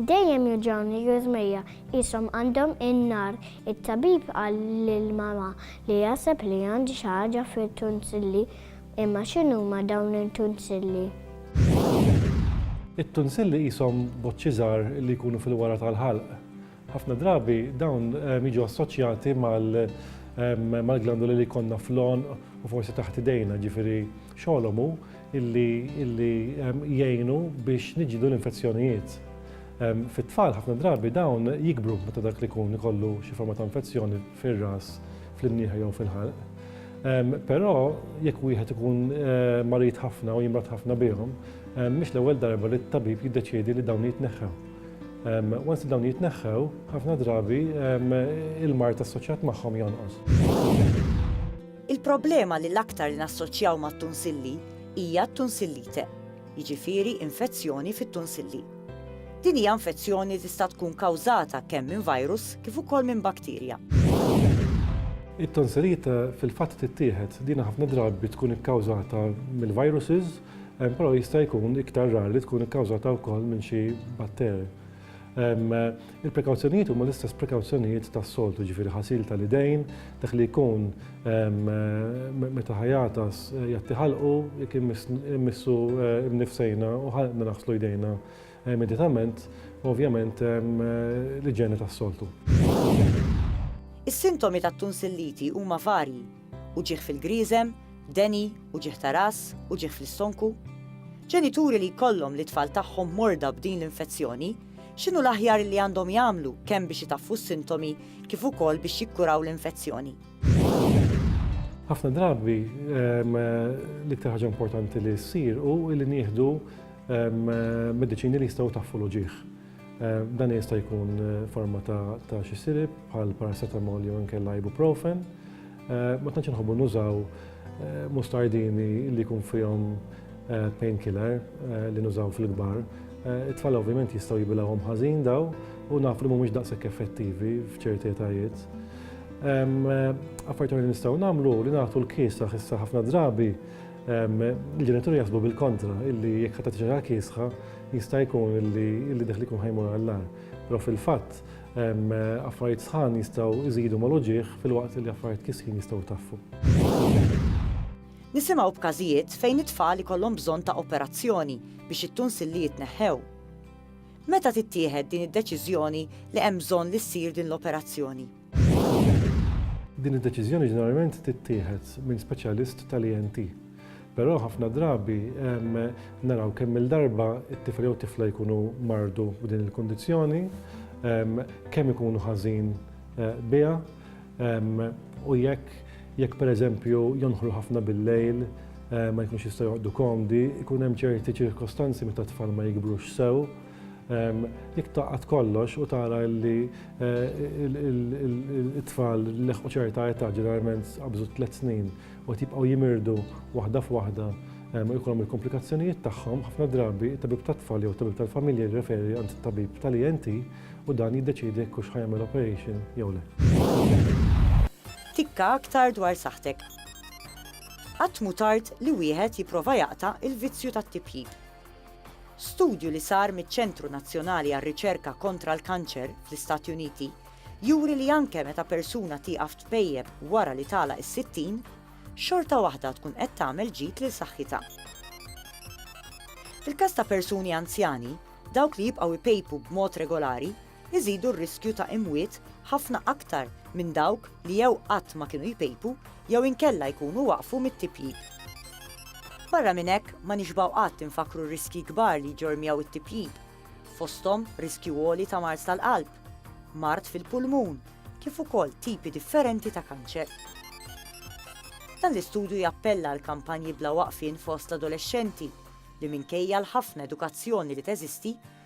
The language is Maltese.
Dejjem juġgħuni l-għżmejja, qishom għandhom in-nar. It-tabib qal lil mamà li jaħseb li għandi xi ħaġa fit-tunsilli. Imma x'inhuma dawn it-tunsilli? It-tunsilli qishom boċċi żgħar li jkunu fil-wara tal-ħalq. Ħafna drabi dawn jiġu assoċjati mal-glandoli li jkollna fl-għonq u forsi taħt idejna, ġifieri xogħolhom hu illi jgħinu biex niġġieldu l-infezzjonijiet. Fit-tfal ħafna drabi dawn jikbru meta dak li jkun ikollu xi forma ta' infezzjoni fir-ras, fl-imnieħer jew fil-ħalq. Però jekk wieħed ikun marid ħafna u jimrod ħafna bihom, mhix l-ewwel darba li t-tabib jiddeċiedi li dawn jitneħħew. Once dawn jitneħħew, ħafna drabi il-mart assoċjat magħhom jonqos. Il-problema li l-aktar li nassoċjaw mat-tunsilli hija t-tunsillite, jiġifieri infezzjoni fit-tunsilli. Din hija infezzjoni tista' tkun kawżata kemm minn virus kif ukoll minn bakterja. It-tonsilite fil-fatt tittieħed din ħafna drabi tkun ikkawżata mill-viruses Però jista' jkun iktar rar li tkun ikkawżata wkoll minn xi batteri. Il-prekawzjonijiet huma l-istess prekawzjonijiet tas-soltu, jiġifieri ħasil tal-idejn, dak li jkun meta ħajagħtas jgħatti ħalqu, jekk immissu mnifsejna u ħalqna naħslu jdejna immedjatament, u ovvjament l-iġene tas-soltu. Is-sintomi tat-tunsilliti huma varji. Uġigħ fil-grieżem, deni, uġigħ ta' ras, uġigħ fl-istonku. Ġenituri li jkollhom lit-tfal tagħhom morda b'din l-infezzjoni, x'inhu l-aħjar li għandhom jagħmlu kemm biex itaffu s-sintomi kif ukoll biex jikkuraw l-infezzjoni? Ħafna drabi l-iktar ħaġa importanti li ssir hu li nieħdu mediċini li jistgħu jtaffu l-uġigħ. Eh, dan jista' jkun eh, forma ta' xi sirib bħal paracetamol jew inkella ibuprofen. Eh, ma tantx inħobbu nużaw mustardini li jkun fihom painkiller li nużaw fil-kbar. It-tfal ovvjament jistgħu jibilgħuhom ħażin daw u naf li mhumiex daqshekk effettivi f'ċerti etajiet. Affarijiet li nistgħu nagħmlu li nagħtu l-kies ta' ħissa ħafna drabi Il-ġenituri jaħsbu bil-kontra, illi jekk ħadd tiġara kiesħa, jista' jkun illi deħli jkun ħajmur għall-lar. Però fil-fatt, affarijiet sħan jistgħu jżidu mal-uġieħ fil-waqt li affarijiet kisħin jistgħu taffu. Nisimgħu b'każijiet fejn it-tfal ikollhom bżonn ta' operazzjoni biex it-tunsilli jitneħħew. Meta tittieħed din id-deċiżjoni li hemm bżonn li ssir din l-operazzjoni? Din id-deċiżjoni ġeneralment tittieħed minn speċjalist tal-ENT. Però ħafna drabi naraw kemm il-darba it-tifel jew tifla jkunu mardu b'din il-kundizzjoni, kemm ikunu ħażin eh, biha u jekk jekk pereżempju jonħlu ħafna bil-lejl eh, ma jkunx jistgħu joqgħdu komdi, ikun hemm ċerti ċirkostanzi meta t-tfal ma jikbrux sew Jekk taqgħad kollox u tara li t-tfal leħqu ċerta età ġeneralment qabżu tliet snin u qed jibqgħu jimirdu waħda f'waħda u jkollhom il-komplikazzjonijiet tagħhom, ħafna drabi it-tabib tat-tfal jew it-tabib tal-familja jirreferi għand it-tabib tal-ENT u dan jiddeċiedi jekk hux ħa jagħmel operation jew le. Tikka aktar dwar saħħtek. Qatt mhu tard li wieħed jipprova jaqta' l-vizzju tat-tipjip. Studju li sar miċ-Ċentru Nazzjonali għar-Riċerka Kontra l-Kanċer fl-Istati Uniti juri li anke meta persuna tieqaf tpejjep wara li tagħlaq is-sittin, xorta waħda tkun qed tagħmel ġid lil saħħitha. Fil-każ ta' persuni anzjani, dawk li jibqgħu jpejpu b'mod regolari iżidu r-riskju ta' imwiet ħafna aktar minn dawk li jew qatt ma kienu jpejpu jew inkella jkunu waqfu mit-tipjip. Barra minn hekk, ma nixbgħu qatt infakkru r-riskji kbar li jġorr miegħu t-tipjip, fosthom riskju għoli ta' mard tal-qalb, mard fil-pulmun, kif ukoll tipi differenti ta' kanċer. Dan l-istudju jappella għal kampanji bla waqfien fost l-adolexxenti li minkejja l-ħafna edukazzjoni li teżisti,